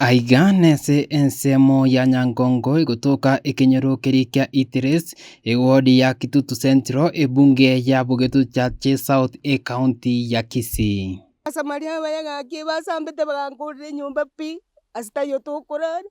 Aiga nense ensemo ya Nyangongo egotoka ekenyoro keria kia Itires, ewodi ya Kitutu Central, ebunge ya Bogeto Chache South ecounty ya Kisii. Abasamaria abayagakie basambete bagankorera enyomba pi ase taiyo tokorara,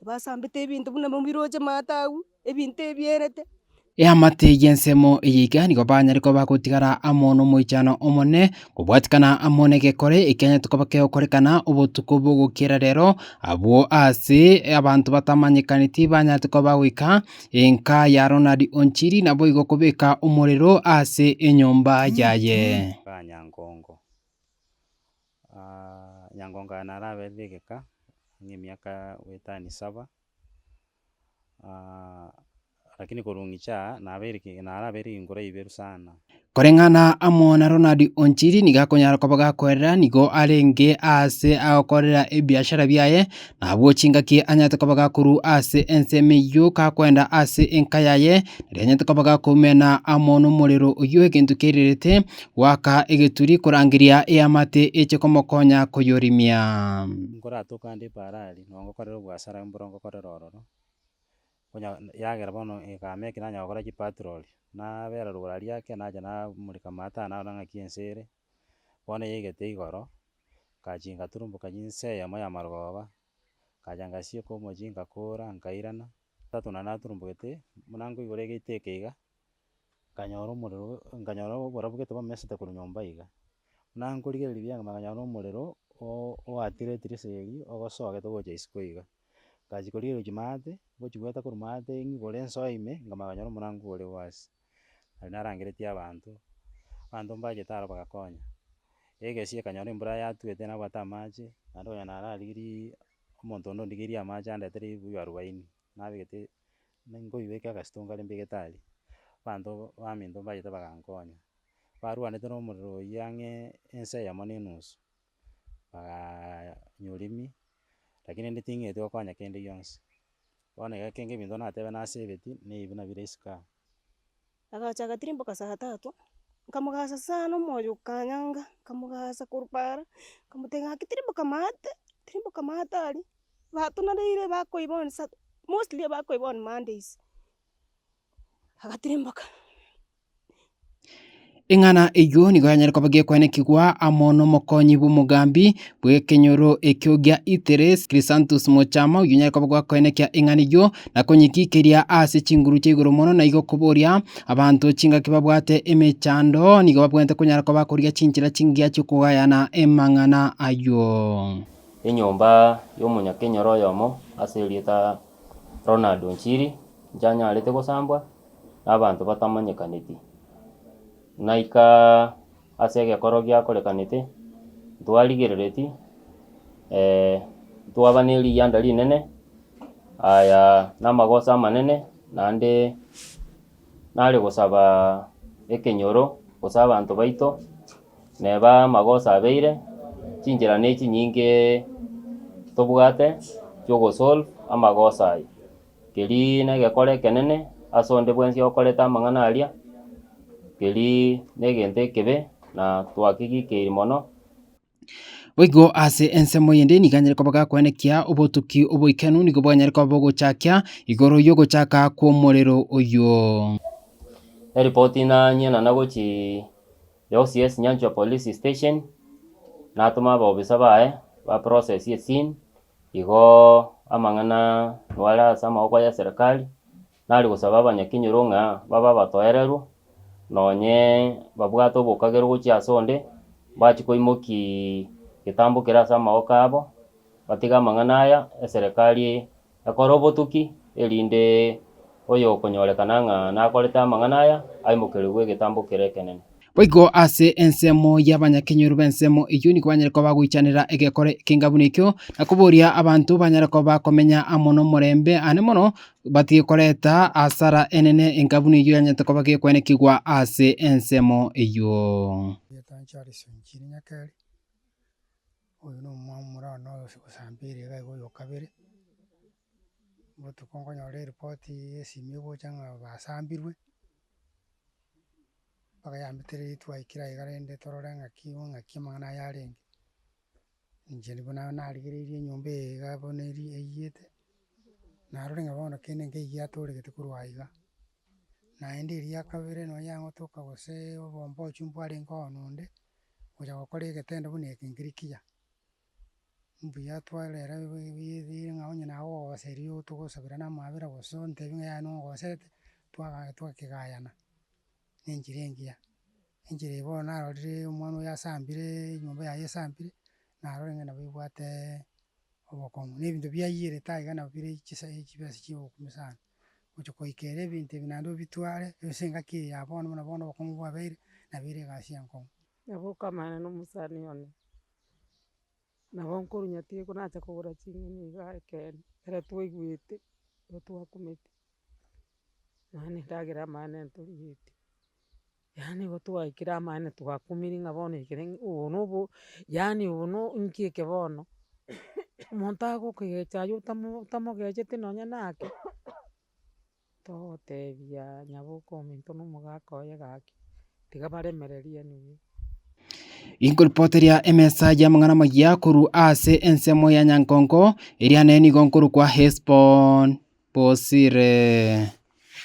basambete ebinto buna mobiroche maata agwo. ebinto ebierete. Eamate y'ensemo eyiika nigo banyare koba bagotigara amo nomoichano omonene, kobwatikana amo n'egekore ekianyarete koba kegokorekana obotuko bw'ogokiera rero, abwo aase abanto batamanyekaneti banyarete koba bagoika enka ya Ronald Onchiri naboigo kobeka omorero aase enyomba yaye. Kaa Nyangongo. Nyangongo aya naraberire egeka ng'emiaka wetano saba. lakini korong'icha aa, nabeire ki- narabeire ginguru ibiru sana. Koreng'ana amo na Ronald Onchiri nigo akonyara koba gakoerera nigo arenge aase agokorera ebiashara biaye, nabwo chingaki anyarete koba gakorwa ase ensemo eyio gakoenda ase enka yaye, riria anyarete koba gakoumena amo na omorero oyio egento kiairerete goaka egeturi korangeria eamate eche komokonya koyorimia. Nkoratoka ande Parari. Nongokorera obwasara mboro ngokorera ororo, onya yagera bono ekame eke nanya gokora chipatroli, nabera rogoro aria ake nacha namoreka amataa narora ng'aki ense ere, bono yaigete igoro, ngachia ngaturumboka inse eyemo ya marogoba, nkacha ngasieka omochie ngakora nkairana, tatu nonye naturumbogete buna nkoigwa egiteka iga. nkanyora omorero o- nkanyora oborabu gete bamesete korwa nyomba iga, buna nkorigereria bianga mambia nkanyora omorero o- oakire etirisa eria ogosoa gete gocha isiko iga. Ngachia korigereria gochia maate, ngochia goeta korwa maate ng'igoro nsoe ime, nkamanya konyora omorango ore o ase, nari narangeretie abanto, abanto mbachete aro bagakonya. Egesie ekanyora embura yatuete nabwate amache, naende konya nararigirie omonto onde ondigerie amache andetere ebuyu arubaini, nabegete. Ninkoigweke agasito nkare mbigetari, abanto baminto mbachete bagankonya. Barwanete nomorero oyio ang'e ensa eyemo ne enusu, bagaanyorimi, rakini rende ting'eti gokonya kende gionsi. Bono egekenge ebinto natebe nasebeti, naebi nabire isiko aa. Agacha agatirimboka saa tatu, nkamogasa sana omoyo okanyanga, nkamogasa korwa paara, nkamotebia ng'aki tirimboka maate, tirimboka maate aria, bato nareire bakoiba on sat mostly bakoiba on Mondays, agatirimboka. Eng'ana eyio nigo yanyare koba gekwanekigwa amo nomokonyi bw'omogambi, bw'ekenyoro ekio gia Iteres, Krisantus mochama, oyio nyare koba gwakoenekia eng'ana eyio, na konyikikeria ase chinguru chia igoro mono, na igo koboria abanto chingaki babwate emechando, nigo babwenerete konyara koba bakorigia chinchera chingiya chi'okogayana amang'ana ayio. Enyomba y'omonyakenyoro oyomo ase erieta Ronald Onchiri nchanyarete gosambwa na abanto batamanyekaneti. Naika. Ase egekoro giakorekanete ntwarigerereti, ee, ntwaba ne riyanda rinene, aya namagoso amanene, naende nare gosaba ekenyoro gose abanto baito, neba amagoso abeire, chinchera ne chinyinge tobwate chiogo solve amagoso aya. Keri negekore ekenene ase onde bwensi okorete amang'ana aria, keri negento ekebe na twakegikeiri mono. Boigo ase ensemo eyende nigo anyare koba gakwenekia obotuki oboichanu nigo bwanyare koba bogochakia igoro y'ogochaka kw'omorero oyuo. Eripoti nanye na nagochi yosi yes Nyanchwa police station natoma abobisa baye ba process ye scene Igo amang'ana aya are ase amaboko ya serikali, nari gosaba abanyakenyoro ng'a babe abatoererwa, nonye babwate obokagerwa gochia ase onde, mbachie koimoki getambo kere ase amaboko abo, batige amang'ana aya, eserekari ekore obotuki erinde Oyokonyorekana ng'a nakorete amang'ana aya, aimokerigwe egetambo kere ekenene. Boigo ase ensemo y'abanyakenyoro b'ensemo eyio nigo banyare koba bagoichanera egekore ekenga buna ekio, na koboria abanto banyare koba komenya amo nomorembe, aane mono batige koreta hasara enene enga buna eyio yanyarete koba gekwenekigwa ase ensemo eyio. botuko nkonyora eripoti yesimi egocha ng'a basambirwe, mpaka yambete riria twaikire aiga rende torore ng'aki bo ng'aki amang'ana aya arenge. Inche nigo na- narigereirie enyomba eye iga bono eri eyiyete, narore ng'a bono kende nkeiyo yatoregete korwa aiga, naende eria ya kabere nonye yang'otoka goseee obombochio mbwarenge oonde, okochaka gokora egetendo buna eke nkeri kiya. Mbuya tware ere bwegegegee ng'a onye naye ogogoseria ogo togosabera na amaabera gose ontebie ng'a yaya nogoserete, twaga twakegayana, na enchera engiya. Enchera eye bono narorire omwana oyo asambireee enyomba yaye esambire, narore ng'a nabo ebwateee obokong'u na ebinto biayierete aiga nabo bire chisa chibesa chia obokong'u sana. Gocha goika ere ebinto ebi naende obitware, ase engaki eye ya bono buna bono obokong'u bwabeire, nabo ere egasi enkong'u. Nabo okamanyana na omosani one, Nabo nkorunya tiga nache kogora ching'eni iga ekeene, ekero twaigwete, ekero twakumete, yaani endagera amaene ntorigetie, yaani igo twaikire amaene twakumire ng'a bono ekere ng'a obo na obo, yaani obo no inki eke bono, omonto agokegecha aye otamo- otamogecheti nonye nake. Togotebia nyaboke ominto na omogaka oye gaki, tiga baremererie enugu. Inkoripoteria emesa y'amang'ana amaya korwa ase ensemo ya Nyankongo, eria nenigo nkorokwa Hesbon-bosire.